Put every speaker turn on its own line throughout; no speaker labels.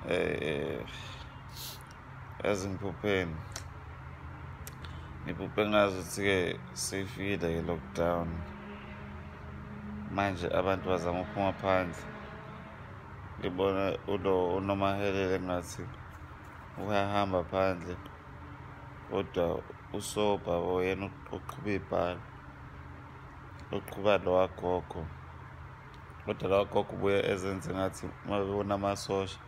eh ezingiphupheni ngiphuphe ngazi ukuthi-ke seyifikile-ke lockdown manje abantu bazama ukuphuma phandle ngibona ulo unomahelele ngathi uyahamba phandle kodwa usobha yena uqhuba ibhala uqhuba lowagogo kodwa lawa gogo ubuye ezenze ngathi uma bebona amasosha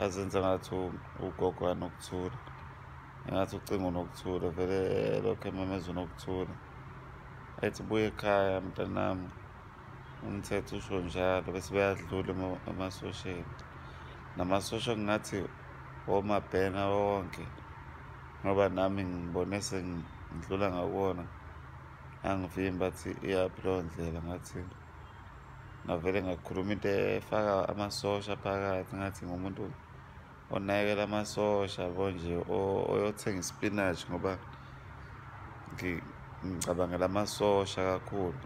azenze ngathi ugogo anokuthula engathi ucingo nokuthula vele lokho ememezwe nokuthula ethi buye ekhaya mntanami umthetho usho njalo bese beyadlula emasosheni namasosha kungathi womabhena wonke ngoba nami ngibone sengidlula ngakuwona angivimbi athi iyaphi leyo ndlela ngathi ngavele ngakhuluma into efaka amasosha phakathi ngathi ngumuntu onakekela amasosha bo nje oyothenga ispinach ngoba ngicabangela amasosha kakhulu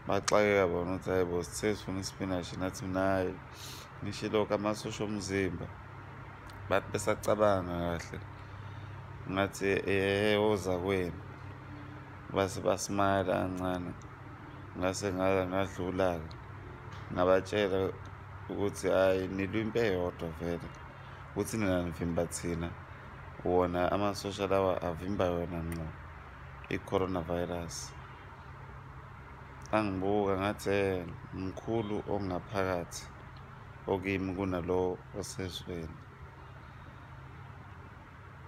baxakeka bona ukuthi hayi bo sithe sifuna ispinach nathi mnayo ngisho lokhu amasosha omzimba bathi besacabanga kahle ngathi ehe oza kwenu base basmayela kancane ngase ngala ngadlula-ke ngabatshela ukuthi hhayi nilwa impi eyodwa vele ukuthi nina nivimba thina wona amasosha lawa avimba yona nqo i-coronavirus angibuka ngathi mkhulu ongaphakathi okimi kunalowo osezweni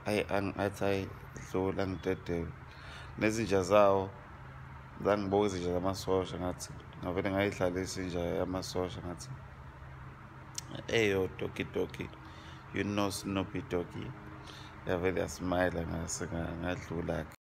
ayi angathi ayi dlula ngidedele nezinja zawo zangibuka izinja zamasosha ngathi ngavele ngayidlala isinja yamasosha ngathi eyo doki doki you know snoopy doki yavele yasimayela ngadlula-ke